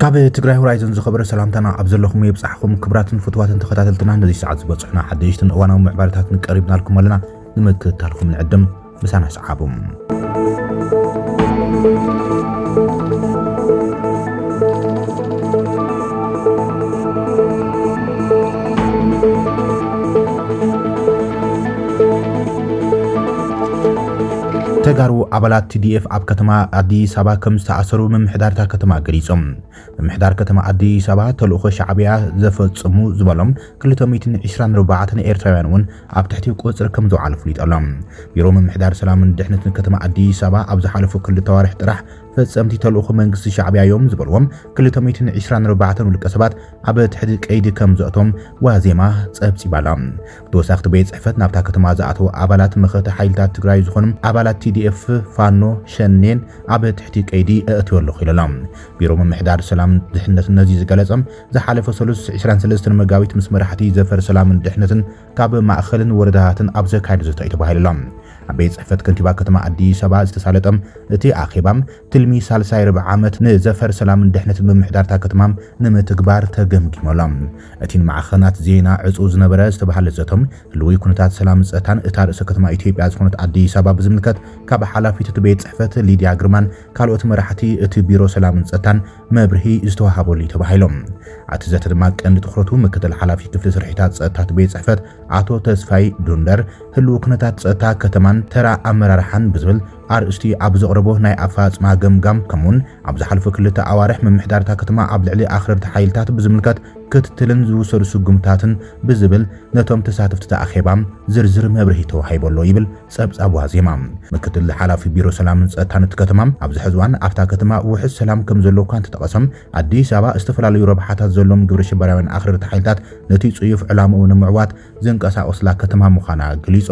ካብ ትግራይ ሆራይዘን ዝኸበረ ሰላምታና ኣብ ዘለኹም የብጻሕኹም ክብራትን ፍትዋትን ተኸታተልትና ነዚ ሰዓት ዝበጽሑና ሓደሽትን እዋናዊ ምዕባለታትን ቀሪብናልኩም ኣለና ንምክትታልኩም ንዕድም ምሳና ተጋሩ ኣባላት ቲዲኤፍ ኣብ ከተማ ኣዲስ ኣበባ ከም ዝተኣሰሩ ምምሕዳርታ ከተማ ገሊጾም። ምምሕዳር ከተማ ኣዲስ ኣበባ ተልእኾ ሻዕብያ ዘፈጽሙ ዝበሎም 224 ኤርትራውያን እውን ኣብ ትሕቲ ቁፅፅር ከምዝወዓሉ ኣፍሊጡ ኣሎ። ቢሮ ምምሕዳር ሰላምን ድሕነትን ከተማ ኣዲስ ኣበባ ኣብ ዝሓለፉ ክልተ ኣዋርሕ ጥራሕ ፈፀምቲ ተልእኾ መንግስቲ ሻዕቢያ እዮም ዝበልዎም ክልተ ሚእትን ዕስራን ኣርባዕተን ውልቀ ሰባት ኣብ ትሕቲ ቀይዲ ከምዘእቶም ዋዜማ ፀብፂባ ኣላ። ብተወሳኺ እቲ ቤት ፅሕፈት ናብታ ከተማ ዝኣተው ኣባላት መኸተ ሓይልታት ትግራይ ዝኾኑ ኣባላት TDF፣ ፋኖ፣ ሸኔን ኣብ ትሕቲ ቀይዲ እእትዮ ኣለኹ ኢሉ ኣሎ። ቢሮ ምምሕዳር ሰላምን ድሕነትን ነዚ ዝገለፀ ዝሓለፈ ሰሉስ ዕስራን ሰለስተን መጋቢት ምስ መራሕቲ ዘፈር ሰላምን ድሕነትን ካብ ማእኸልን ወረዳታትን ኣብ ዘካየዱ ዘተ እዩ ተባሂሉ ኣሎ። ኣብ ቤት ጽሕፈት ከንቲባ ከተማ ኣዲስ ኣበባ ዝተሳለጠ እቲ ኣኼባ ትልሚ ሳልሳይ ርብዒ ዓመት ንዘፈር ሰላምን ድሕነትን ምምሕዳርታ ከተማ ንምትግባር ተገምጊሙ ኣሎ። እቲ ንማዕኸናት ዜና ዕጹው ዝነበረ ዝተባህለ ዘተ ህልዊ ኩነታት ሰላምን ጸጥታን እታ ርእሰ ከተማ ኢትዮጵያ ዝኾነት ኣዲስ ኣበባ ብዝምልከት ካብ ሓላፊት እቲ ቤት ጽሕፈት ሊድያ ግርማን ካልኦት መራሕቲ እቲ ቢሮ ሰላምን ጸጥታን መብርሂ ዝተዋሃበሉ እዩ ተባሂሎም። ኣቲ ዘተ ድማ ቀንዲ ትኹረቱ ምክትል ሓላፊ ክፍሊ ስርሒታት ጸጥታት ቤት ጽሕፈት ኣቶ ተስፋይ ዱንደር ህልው ኩነታት ጸጥታ ከተማን ተራ ኣመራርሓን ብዝብል ኣርእስቲ ኣብ ዘቕረቦ ናይ ኣፈጻጽማ ገምጋም ከምኡውን ኣብ ዝሓለፉ ክልተ ኣዋርሕ ምምሕዳርታ ከተማ ኣብ ልዕሊ ኣኽረርቲ ሓይልታት ብዝምልከት ክትትልን ዝውሰዱ ስጉምታትን ብዝብል ነቶም ተሳተፍቲ ኣኼባ ዝርዝር መብርሂ ተዋሂቦ ኣሎ ይብል ጸብጻብ ዋዜማ፣ ምክትል ሓላፊ ቢሮ ሰላምን ጸጥታን እቲ ከተማ፣ ኣብዚ ሕዚ እዋን ኣብታ ከተማ ውሑስ ሰላም ከምዘሎ እኳ እንተጠቐሰ፣ ኣዲስ ኣበባ ዝተፈላለዩ ረብሓታት ዘለዎም ግብረሽበራውያን ኣኽረርቲ ሓይልታት ነቲ ጽዩፍ ዕላምኡ ንምዕዋት ዝንቀሳቐሱላ ከተማ ምዃና ገሊጹ።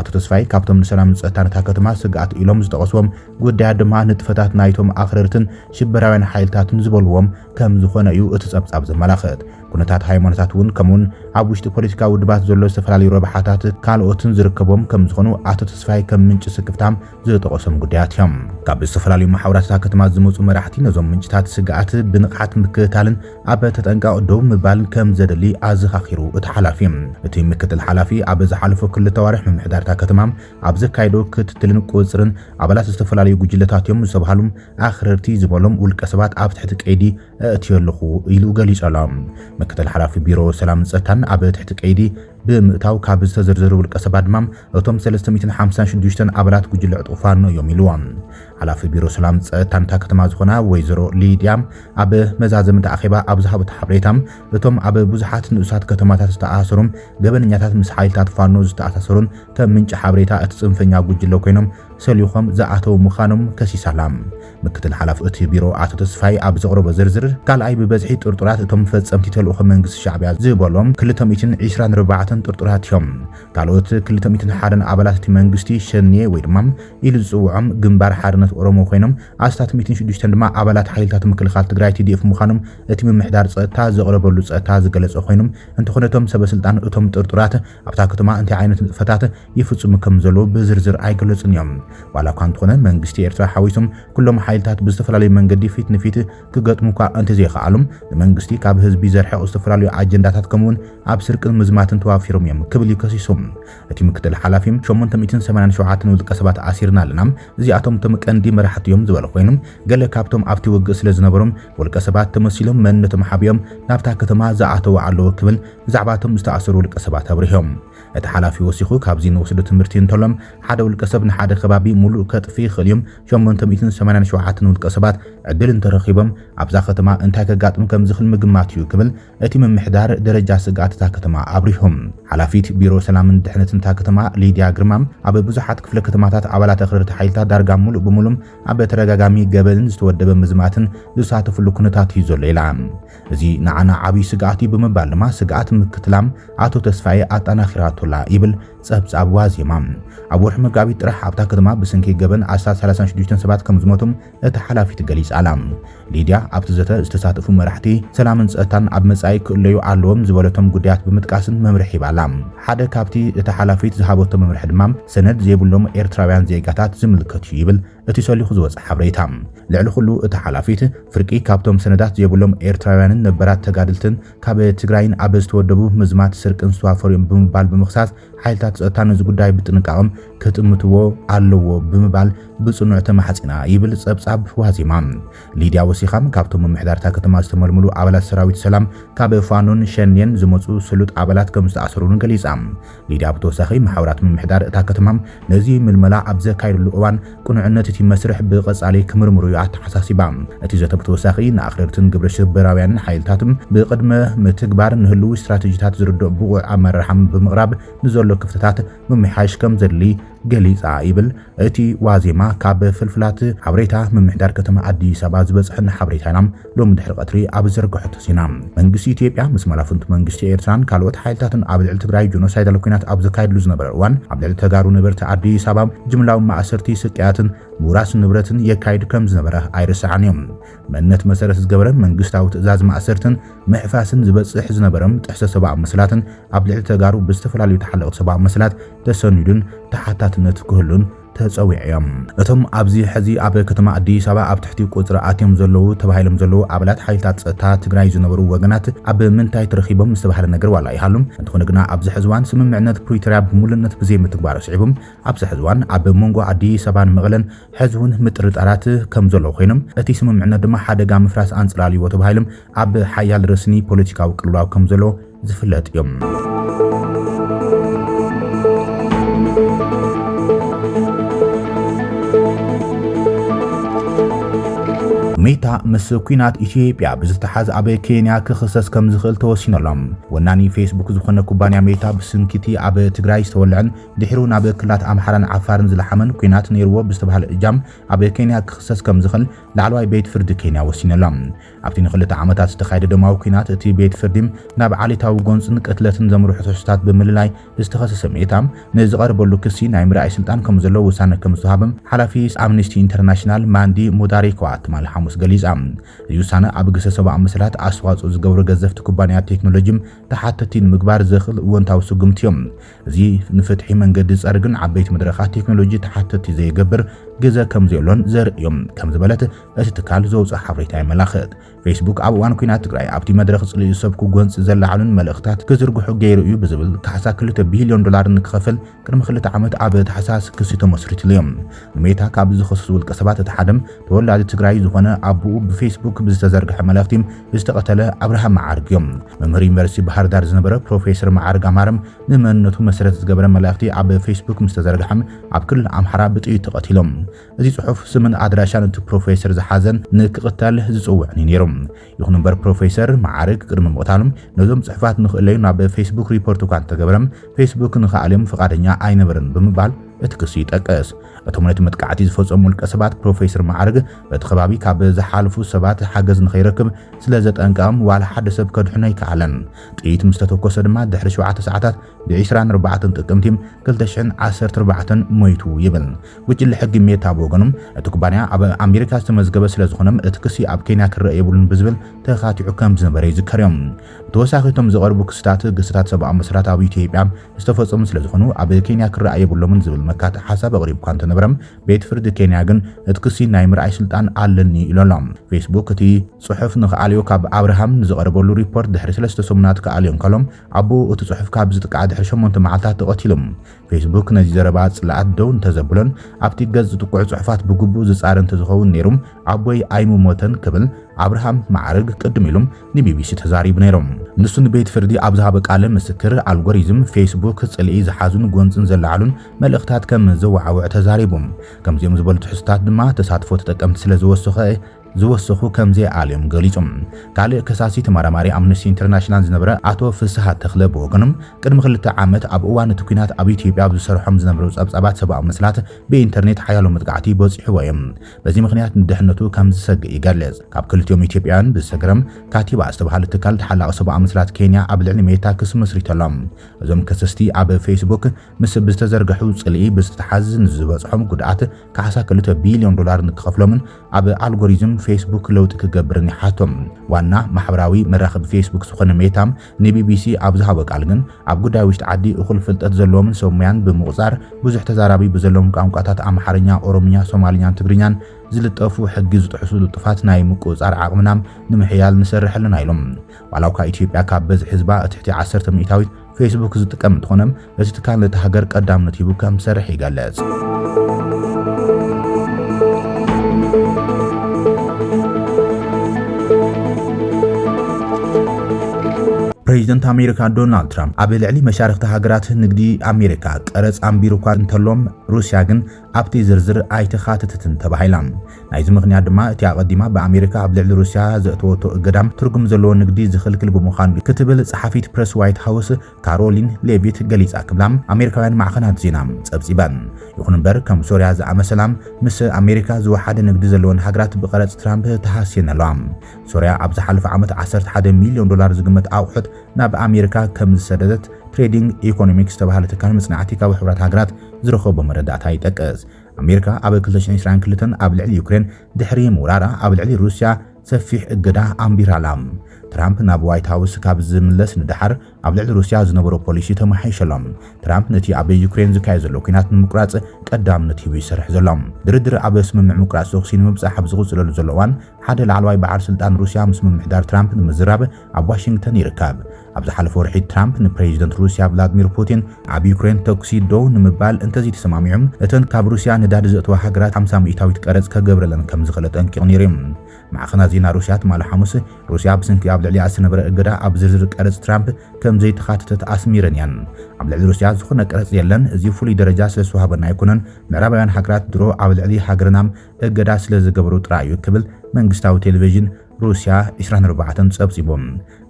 ኣቶ ተስፋይ ካብቶም ንሰላምን ጸጥታን እታ ከተማ ስግኣት ኢሎም ዝጠቐስዎም ጉዳያት ድማ ንጥፈታት ናይቶም ኣኽረርትን ሽበራውያን ሓይልታትን ዝበልዎም ከምዝኾነ እዩ እቲ ጸብጻብ ዘመላኽት። ኩነታት ሃይማኖታት እውን ከምኡውን ኣብ ውሽጢ ፖለቲካ ውድባት ዘሎ ዝተፈላለዩ ረብሓታት ካልኦትን ዝርከቦም ከም ዝኾኑ ኣቶ ተስፋይ ከም ምንጪ ስክፍታም ዝጠቐሶም ጉዳያት እዮም። ካብ ዝተፈላለዩ መሓውራትታ ከተማ ዝመፁ መራሕቲ ነዞም ምንጭታት ስግኣት ብንቕሓት ምክትታልን ኣብ ተጠንቃቕ ደው ምባልን ከም ዘደሊ ኣዘኻኺሩ እቲ ሓላፊ እቲ ምክትል ሓላፊ ኣብ ዝሓለፉ ክልተ ኣዋርሕ ምምሕዳርታ ከተማ ኣብ ዘካየዶ ክትትልን ቁፅርን ኣባላት ዝተፈላለዩ ጉጅለታት እዮም ዝተባሃሉ ኣኽረርቲ ዝበሎም ውልቀ ሰባት ኣብ ትሕቲ ቀይዲ እእትዮ ኣለኹ ኢሉ ገሊጸላ። ምክትል ሓላፊ ቢሮ ሰላምን ጸጥታን ኣብ ትሕቲ ቀይዲ ብምእታው ካብ ዝተዘርዘሩ ውልቀ ሰባት ድማ እቶም 356 ኣባላት ጉጅለ ዕጡቕ ፋኖ እዮም ኢልዋ። ሓላፊ ቢሮ ሰላም ጸጥታን እታ ከተማ ዝኾና ወይዘሮ ሊድያ ኣብ መዛዘምቲ ኣኼባ ኣብ ዝሃቡት ሓበሬታ እቶም ኣብ ብዙሓት ንኡሳት ከተማታት ዝተኣሳሰሩን ገበነኛታት ምስ ሓይልታት ፋኖ ዝተኣሳሰሩን ከም ምንጪ ሓበሬታ እቲ ጽንፈኛ ጉጅለ ኮይኖም ሰሊኾም ዝኣተው ምዃኖም ከሲሳላ። ምክትል ሓላፊ እቲ ቢሮ ኣቶ ተስፋይ ኣብ ዘቕረቦ ዝርዝር፣ ካልኣይ ብበዝሒ ጥርጡራት እቶም ፈጸምቲ ተልእኾ መንግስቲ ሻዕቢያ ዝበሎም ክልተ ሚእትን ዒስራን ኣርባዕተን ጥርጡራት እዮም። ካልኦት ክልተ ሚእትን ሓደን ኣባላት እቲ መንግስቲ ሸኔ ወይ ድማ ኢሉ ዝጽውዖም ግንባር ሓርነት ኦሮሞ ኮይኖም ኣስታት ሚእትን ሽዱሽተን ድማ ኣባላት ሓይልታት ምክልኻል ትግራይ TDF ምዃኖም እቲ ምምሕዳር ጸጥታ ዘቕረበሉ ጸታ ዝገለጸ ኮይኑ፣ እንተኾነ እቶም ሰበስልጣን እቶም ጥርጡራት ኣብታ ከተማ እንታይ ዓይነት ንጥፈታት ይፍጽሙ ከም ዘለዉ ብዝርዝር ኣይገለጹን እዮም። ዋላ እኳ እንተኾነ መንግስቲ ኤርትራ ሓዊሱ ኩሎም ሓይልታት ብዝተፈላለዩ መንገዲ ፊት ንፊት ክገጥሙ እኳ እንተዘይኸኣሉ ንመንግስቲ ካብ ህዝቢ ዘርሕቕ ዝተፈላለዩ ኣጀንዳታት ከምኡ'ውን ኣብ ስርቅን ምዝማትን ተዋፊሮም እዮም ክብል እዩ ከሲሱ። እቲ ምክትል ሓላፊ ሸሞንተ ሚእትን ሰማንያን ሸውዓተን ውልቀ ሰባት ኣሲርና ኣለና፣ እዚኣቶም እቶም ቀንዲ መራሕቲ እዮም ዝበለ ኮይኑ ገለ ካብቶም ኣብቲ ውግእ ስለ ዝነበሩ ውልቀ ሰባት ተመሲሎም መንነቶም ሓቢኦም ናብታ ከተማ ዝኣተዉ ኣለዉ ክብል ብዛዕባ እቶም ዝተኣሰሩ ውልቀ ሰባት ኣብሪሆም። እቲ ሓላፊ ወሲኹ ካብዚ ንወስዶ ትምህርቲ እንተሎ ሓደ ውልቀ ሰብ ንሓደ ከባቢ ሙሉእ ከጥፍእ ይኽእል እዩ፣ ሸሞንተ ሚእትን ሰማንያን ሸውዓተን ውልቀ ሰባት ዕድል እንተረኺቦም ኣብዛ ከተማ እንታይ ከጋጥም ከምዝኽል ምግማት እዩ ክብል እቲ ምምሕዳር ደረጃ ስግኣት እታ ከተማ ኣብሪሁ። ሓላፊት ቢሮ ሰላምን ድሕነትን እታ ከተማ ሊድያ ግርማ ኣብ ብዙሓት ክፍለ ከተማታት ኣባላት ኣኽረርቲ ሓይልታት ዳርጋ ሙሉእ ብሙሉእ ኣብ ተደጋጋሚ ገበንን ዝተወደበ ምዝማትን ዝሳተፍሉ ኩነታት እዩ ዘሎ ኢላ። እዚ ንዓና ዓብይ ስግኣት እዩ ብምባል ድማ ስግኣት ምክትላም ኣቶ ተስፋዬ ኣጣናኺራቶ'ላ ይብል ጸብጻብ ዋዜማ። ኣብ ወርሒ መጋቢት ጥራሕ ኣብታ ከተማ ብስንኪ ገበን ኣስታት ሰላሳን ሽዱሽተን ሰባት ከምዝሞቱ እታ ሓላፊት ገሊጻ'ላ። ሊድያ ኣብቲ ዘተ ዝተሳተፉ መራሕቲ ሰላምን ጸጥታን ኣብ መጻኢ ክእለዩ ኣለዎም ዝበለቶም ጉዳያት ብምጥቃስ መምርሒ ሂባ'ላ። ሓደ ካብቲ እታ ሓላፊት ዝሃበቶ መምርሒ ድማ ሰነድ ዘይብሎም ኤርትራውያን ዜጋታት ዝምልከት እዩ ይብል እቲ ሰሊኹ ዝወጸ ሓብሬታ ልዕሊ ኩሉ እታ ሓላፊት ፍርቂ ካብቶም ሰነዳት ዘይብሎም ኤርትራውያንን ነበራት ተጋድልትን ካብ ትግራይን ኣብ ዝተወደቡ ምዝማት ስርቅን ዝተዋፈሩ እዮም ብምባል ብምኽሳስ ሓይልታት ጸጥታ ነዚ ጉዳይ ብጥንቃቐም ክጥምትዎ ኣለዎ ብምባል ብጽኑዕ ተማሕጺና ይብል ጸብጻብ ዋዜማ። ሊድያ ወሲኻም ካብቶም ምምሕዳርታ ከተማ ዝተመልምሉ ኣባላት ሰራዊት ሰላም ካብ ፋኖን ሸኔን ዝመጹ ስሉጥ ኣባላት ከም ዝተኣሰሩን ገሊጻ። ሊድያ ብተወሳኺ መሓውራት ምምሕዳር እታ ከተማ ነዚ ምልመላ ኣብ ዘካይድሉ እዋን ቅኑዕነት እቲ መስርሕ ብቐጻሊ ክምርምሩ እዩ ኣተሓሳሲባ። እቲ ዘተ ብተወሳኺ ንኣኽረርትን ግብረ ሽበራውያንን ሓይልታት ብቕድመ ምትግባር ንህልዊ ስትራተጂታት ዝርድኦ ብቑዕ ኣመራርሓ ብምቕራብ ንዘሎ ክፍተታት ምምሕያሽ ከምዘድሊ ገሊጻ ይብል እቲ ዋዜማ ካብ ፍልፍላት ሓበሬታ ምምሕዳር ከተማ ኣዲስ ኣበባ ዝበጽሐና ሓበሬታ ኢና ሎሚ ድሕሪ ቀትሪ ኣብ ዝዘርገሐቶ ዜና መንግስቲ ኢትዮጵያ ምስ መላፍንቱ መንግስቲ ኤርትራን ካልኦት ሓይልታትን ኣብ ልዕሊ ትግራይ ጆኖሳይዳል ኩናት ኣብ ዘካየድሉ ዝነበረ እዋን ኣብ ልዕሊ ተጋሩ ነበርቲ ኣዲስ ኣበባ ጅምላዊ ማእሰርቲ ስቅያትን ምውራስ ንብረትን የካይድ ከም ዝነበረ ኣይርሳዕን እዮም መንነት መሰረት ዝገበረ መንግስታዊ ትእዛዝ ማእሰርትን ምሕፋስን ዝበጽሕ ዝነበረም ጥሕሰ ሰብኣዊ መሰላትን ኣብ ልዕሊ ተጋሩ ብዝተፈላለዩ ተሓለቕቲ ሰብኣዊ መሰላት ተሰኒዱን ተሓታትነት ክህሉን ተጸዊዑ እዮ። እቶም ኣብዚ ሕዚ ኣብ ከተማ ኣዲስ ኣበባ ኣብ ትሕቲ ቁጽሪ ኣትዮም ዘለዉ ተባሂሎም ዘለዉ ኣባላት ሓይልታት ጸጥታ ትግራይ ዝነበሩ ወገናት ኣብ ምንታይ ተረኺቦም ዝተባህለ ነገር ዋላ ይሃሉ እንተኾነ ግና ኣብዚ ሕዚ እዋን ስምምዕነት ፕሪቶርያ ብምሉእነት ብዘይምትግባሩ ስዒቡ ኣብዚ ሕዚ እዋን ኣብ መንጎ ኣዲስ ኣበባን መቐለን ሕዚ እውን ምጥርጣራት ከም ዘለዉ ኮይኖም እቲ ስምምዕነት ድማ ሓደጋ ምፍራስ ኣንጸላልይዎ ተባሂሎም ኣብ ሓያል ረስኒ ፖለቲካዊ ቅልውላው ከም ዘለዎ ዝፍለጥ እዩ። ሜታ ምስ ኩናት ኢትዮጵያ ብዝተሓዝ ኣብ ኬንያ ክኽሰስ ከም ዝኽእል ተወሲኖሎም። ወናኒ ፌስቡክ ዝኾነ ኩባንያ ሜታ ብስንኪቲ ኣብ ትግራይ ዝተወልዐን ድሕሩ ናብ ክልላት ኣምሓራን ዓፋርን ዝለሓመን ኩናት ነይርዎ ብዝተባሃለ እጃም ኣብ ኬንያ ክኽሰስ ከም ዝኽእል ላዕለዋይ ቤት ፍርዲ ኬንያ ወሲኖሎም። ኣብቲ ንኽልተ ዓመታት ዝተኻየደ ደማዊ ኲናት፣ እቲ ቤት ፍርዲ ናብ ዓሌታዊ ጎንጽን ቅትለትን ዘምርሑ ትሕዝቶታት ብምልላይ ዝተኸሰሰ ሜታ፣ ንዝቐረበሉ ክሲ ናይ ምርኣይ ስልጣን ከምዘለዎ ውሳነ ከምዝወሃበ ሓላፊ ኣምኒስቲ ኢንተርናሽናል ማንዲ ሙዳሪክዋ ትማሊ ሓሙስ ገሊጻ። እዚ ውሳነ ኣብ ግህሰት ሰብኣዊ መሰላት ኣስተዋጽኦ ዝገብሩ ገዘፍቲ ኩባንያታት ቴክኖሎጂ ተሓተትቲ ንምግባር ዘኽእል እወንታዊ ስጉምቲዮ። እዚ ንፍትሒ መንገዲ ዝጸርግን ዓበይቲ መድረኻት ቴክኖሎጂ ተሓተቲ ዘይገብር ግዘ ከምዘየሎን ዘርኢ እዩ ከም ዝበለት እቲ ትካል ዘውፅኦ ሓበሬታ የመላኽት። ፌስቡክ ኣብ እዋን ኲናት ትግራይ ኣብቲ መድረኽ ጽልኢ ዝሰብኩ ጎንፂ ዘለዓዕሉን መልእኽታት ክዝርግሑ ገይሩ እዩ ብዝብል ካሕሳ ክልተ ቢልዮን ዶላር ንክኸፍል ቅድሚ ክልተ ዓመት ኣብ ታሕሳስ ክሲ ተመስሪትሉ እዩ። ሜታ ካብ ዝኸሰሱ ውልቀሰባት እቲ ሓደ ተወላዲ ትግራይ ዝኾነ ኣቦኡ ብፌስቡክ ብዝተዘርግሐ መልእኽቲ ዝተቐተለ ኣብርሃም መዓርግ እዮም። መምህር ዩኒቨርሲቲ ባህርዳር ዝነበረ ፕሮፌሰር መዓርግ ኣማረ ንመንነቱ መሰረት ዝገበረ መልእኽቲ ኣብ ፌስቡክ ምስ ተዘርግሐ ኣብ ክልል ኣምሓራ ብጥይት ተቐቲሎም። እዚ ጽሑፍ ስምን ኣድራሻን እቲ ፕሮፌሰር ዝሓዘ ንክቕተል ዝጽውዕን እዩ ነይሩ። ይኹን እምበር ፕሮፌሰር መዓርግ ቅድሚ ምቕታሎም ነዞም ጽሑፋት ንኽእለዩ ናብ ፌስቡክ ሪፖርት እኳ እንተገበረ ፌስቡክ ንኽኣልዮም ፍቓደኛ ኣይነበረን ብምባል እቲ ክሲ ይጠቅስ። እቶም ነቲ መጥቃዕቲ ዝፈጸሙ ውልቀ ሰባት ፕሮፌሰር መዓርግ በቲ ከባቢ ካብ ዝሓልፉ ሰባት ሓገዝ ንኸይረክብ ስለ ዘጠንቀቐም ዋላ ሓደ ሰብ ከድሕኖ ኣይከኣለን። ጥይት ምስ ተተኮሰ ድማ ድሕሪ ሸውዓተ ሰዓታት ብ24 ጥቅምቲ 2014 ሞይቱ ይብል ጉጅለ ሕጊ ሜታ ብወገኑ እቲ ኩባንያ ኣብ ኣሜሪካ ዝተመዝገበ ስለዝኾነ እቲ ክሲ ኣብ ኬንያ ክረአ የብሉን ብዝብል ተኻቲዑ ከም ዝነበረ ይዝከር እዮም። ብተወሳኺ እቶም ዝቐርቡ ክስታት ግስታት ሰብኣዊ መሰላት ኣብ ኢትዮጵያ ዝተፈጸሙ ስለዝኾኑ ኣብ ኬንያ ክረኣ የብሎምን ዝብል መካትዒ ሓሳብ ኣቕሪቡ እኳ እንተነበረ ቤት ፍርዲ ኬንያ ግን እቲ ክሲ ናይ ምርኣይ ስልጣን ኣለኒ ኢሉ ኣሎ። ፌስቡክ እቲ ጽሑፍ ንክኣልዮ ካብ ኣብርሃም ንዝቐረበሉ ሪፖርት ድሕሪ ሰለስተ ሰሙናት ክኣልዮ እንከሎ ኣቦኡ እቲ ጽሑፍ ካብ ዝጥቅዓ ድሕሪ ሸሞንተ መዓልታት ተቐቲሉ። ፌስቡክ ነዚ ዘረባ ጽልኣት ደው እንተዘብሎን ኣብቲ ገጽ ዝጥቅዑ ጽሑፋት ብግቡእ ዝጻረ እንተዝኸውን ነይሩ ኣቦይ ኣይምሞተን ክብል ኣብርሃም መዓርግ ቅድም ኢሉ ንቢቢሲ ተዛሪቡ ነይሩ። ንሱ ንቤት ፍርዲ ኣብ ዝሃበ ቃለ ምስክር ኣልጎሪዝም ፌስቡክ ጽልኢ ዝሓዙን ጎንጽን ዘለዓሉን መልእኽታት ከም ዘወዓውዕ ተዛሪቡ። ከምዚኦም ዝበሉ ትሕዝቶታት ድማ ተሳትፎ ተጠቀምቲ ስለ ዝወሰኸ ዝወሰኹ ከምዘይዓልዮም ገሊጹ። ካልእ ከሳሲ ተመራማሪ ኣምነስቲ ኢንተርናሽናል ዝነበረ ኣቶ ፍስሃ ተኽለ ብወገኑ፣ ቅድሚ ክልተ ዓመት ኣብ እዋን እቲ ኲናት ኣብ ኢትዮጵያ ኣብ ዝሰርሖም ዝነበሩ ጸብጻባት ሰብኣዊ መሰላት ብኢንተርኔት ሓያሎ መጥቃዕቲ በጺሕዎ እዩ። በዚ ምኽንያት ንድሕነቱ ከም ዝሰግእ ይገልጽ። ካብ ክልቲኦም ኢትዮጵያውያን ብዝሰገረም ካቲባ ዝተባህለ ትካል ተሓላቒ ሰብኣዊ መሰላት ኬንያ ኣብ ልዕሊ ሜታ ክሲ መስሪቱ ኣሎ። እዞም ከሰስቲ ኣብ ፌስቡክ ምስ ብዝተዘርገሑ ጽልኢ ብዝተተሓዝ ንዝበጽሖም ጉድኣት ካሕሳ ክልተ ቢልዮን ዶላር ንክኸፍሎምን ኣብ ኣልጎሪዝም ፌስቡክ ለውጢ ክገብርን ይሓቶ። ዋና ማሕበራዊ መራኸቢ ፌስቡክ ዝኾነ ሜታ ንቢቢሲ ኣብ ዝሃቦ ቃል ግን ኣብ ጉዳይ ውሽጢ ዓዲ እኹል ፍልጠት ዘለዎምን ሰብ ሙያን ብምቑጻር ብዙሕ ተዛራቢ ብዘለዎም ቋንቋታት ኣምሓርኛ፣ ኦሮምኛ፣ ሶማልኛን ትግርኛን ዝልጠፉ ሕጊ ዝጥሕሱ ልጡፋት ናይ ምቁጽጻር ዓቕምና ንምሕያል ንሰርሕ ኣለና ኢሎም። ዋላ'ኳ ኢትዮጵያ ካብ በዝሒ ህዝባ እትሕቲ ዓሰርተ ሚእታዊት ፌስቡክ ዝጥቀም እንተኾነ፣ እቲ ትካል ነታ ሃገር ቀዳምነት ሂቡ ከም ዝሰርሕ ይገልጽ። ፕሬዚደንት ኣሜሪካ ዶናልድ ትራምፕ ኣብ ልዕሊ መሻርክቲ ሃገራት ንግዲ ኣሜሪካ ቀረፅ ኣንቢሩ እኳ እንተሎም ሩስያ ግን ኣብቲ ዝርዝር ኣይተኻተተትን ተባሂላ። ናይዚ ምኽንያት ድማ እቲ ኣቐዲማ ብኣሜሪካ ኣብ ልዕሊ ሩስያ ዘእተወቶ እገዳ ትርጉም ዘለዎ ንግዲ ዝኽልክል ብምዃኑ'ዩ ክትብል ጸሓፊት ፕረስ ዋይት ሃውስ ካሮሊን ሌቪት ገሊጻ ክብላ ኣሜሪካውያን ማዕኸናት ዜና ጸብጺበን። ይኹን እምበር ከም ሶርያ ዝኣመሰላ ምስ ኣሜሪካ ዝወሓደ ንግዲ ዘለወን ሃገራት ብቐረጽ ትራምፕ ተሃስየን ኣለዋ። ሶርያ ኣብ ዝሓለፈ ዓመት ዓሰርተ ሓደ ሚልዮን ዶላር ዝግመት ኣቑሑት ናብ ኣሜሪካ ከም ዝሰደደት ትሬዲንግ ኢኮኖሚክስ ዝተባህለ ትካል መጽናዕቲ ካብ ሕብራት ሃገራት ዝረኸቦ መረዳእታ ይጠቅስ። ኣሜሪካ ኣብ 2022 ኣብ ልዕሊ ዩክሬን ድሕሪ ምውራራ ኣብ ልዕሊ ሩስያ ሰፊሕ እገዳ ኣንቢራ ኣላ። ትራምፕ ናብ ዋይት ሃውስ ካብ ዝምለስ ንደሓር ኣብ ልዕሊ ሩስያ ዝነበሮ ፖሊሲ ተመሓይሸ ኣሎ። ትራምፕ ነቲ ኣብ ዩክሬን ዝካየድ ዘሎ ኲናት ንምቁራጽ ቀዳምነት ሂቡ ይሰርሕ ዘሎ። ድርድር ኣብ ስምምዕ ምቁራጽ ተኹሲ ንምብጻሕ ኣብ ዝቕጽለሉ ዘሎ እዋን፣ ሓደ ላዕለዋይ በዓል ስልጣን ሩስያ ምስ ምምሕዳር ትራምፕ ንምዝራብ ኣብ ዋሽንግተን ይርከብ። ኣብ ዝሓለፈ ወርሒ ትራምፕ ንፕሬዚደንት ሩስያ ቭላድሚር ፑቲን ኣብ ዩክሬን ተኩሲ ደው ንምባል እንተዘይተሰማሚዑ እተን ካብ ሩስያ ነዳዲ ዘእተዋ ሃገራት ሓምሳ ሚእታዊት ቀረጽ ከገብረለን ከም ዝኽእል ኣጠንቂቑ ነይሩ እዩ። ማዕኸናት ዜና ሩስያ ትማሊ ሓሙስ ሩስያ ብስንኪ ኣብ ልዕሊኣ ዝተነበረ እገዳ ኣብ ዝርዝር ቀረጽ ትራምፕ ከም ዘይተኻተተት ኣስሚረን እየን። ኣብ ልዕሊ ሩስያ ዝኾነ ቀረጽ የለን፣ እዚ ፍሉይ ደረጃ ስለ ዝተዋህበና ኣይኮነን፣ ምዕራባውያን ሃገራት ድሮ ኣብ ልዕሊ ሃገርና እገዳ ስለ ዝገበሩ ጥራይ እዩ ክብል መንግስታዊ ቴሌቪዥን ሩስያ ዕስራን ኣርባዕተን ጸብጺቡ።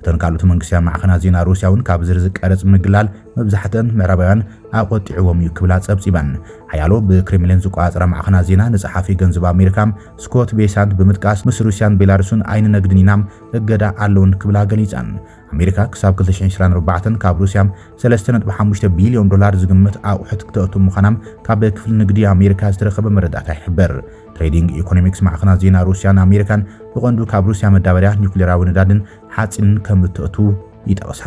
እተን ካልኦት መንግስታዊ ማዕኸናት ዜና ሩስያ'ውን ካብ ዝርዝር ቀረጽ ምግላል መብዛሕትአን ምዕራባውያን ኣቖጢዕዎም እዩ ክብላ ጸብጺበን። ሓያሎ ብክሬምሊን ዝቆጻጸራ ማዕኸናት ዜና ንጸሓፊ ገንዘብ ኣሜሪካ ስኮት ቤሳንት ብምጥቃስ ምስ ሩስያን ቤላሩስን ኣይንነግድን ኢና፣ እገዳ ኣሎወን ክብላ ገሊጸን። ኣሜሪካ ክሳብ 2024 ካብ ሩስያ 3.5 ቢልዮን ዶላር ዝግመት ኣቑሑት ክተእቱ ምዃና ካብ ክፍሊ ንግዲ ኣሜሪካ ዝተረኸበ መረዳእታ ይሕብር። ትሬዲንግ ኢኮኖሚክስ ማዕኸናት ዜና ሩስያን ኣሜሪካን ብቐንዱ ካብ ሩስያ መዳበርያ፣ ኒውክሌራዊ ነዳድን ሓፂንን ከም እተእቱ ይጠቕሳ።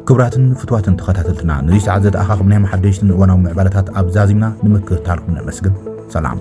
ክብራትን ፍትዋትን ተኸታተልትና ነዚ ሰዓት ዘተኣኻኽብናዮም ሓደሽትን እዋናዊ ምዕባለታት ኣብዛዚምና ንምክትታልኩም ነመስግን። ሰላም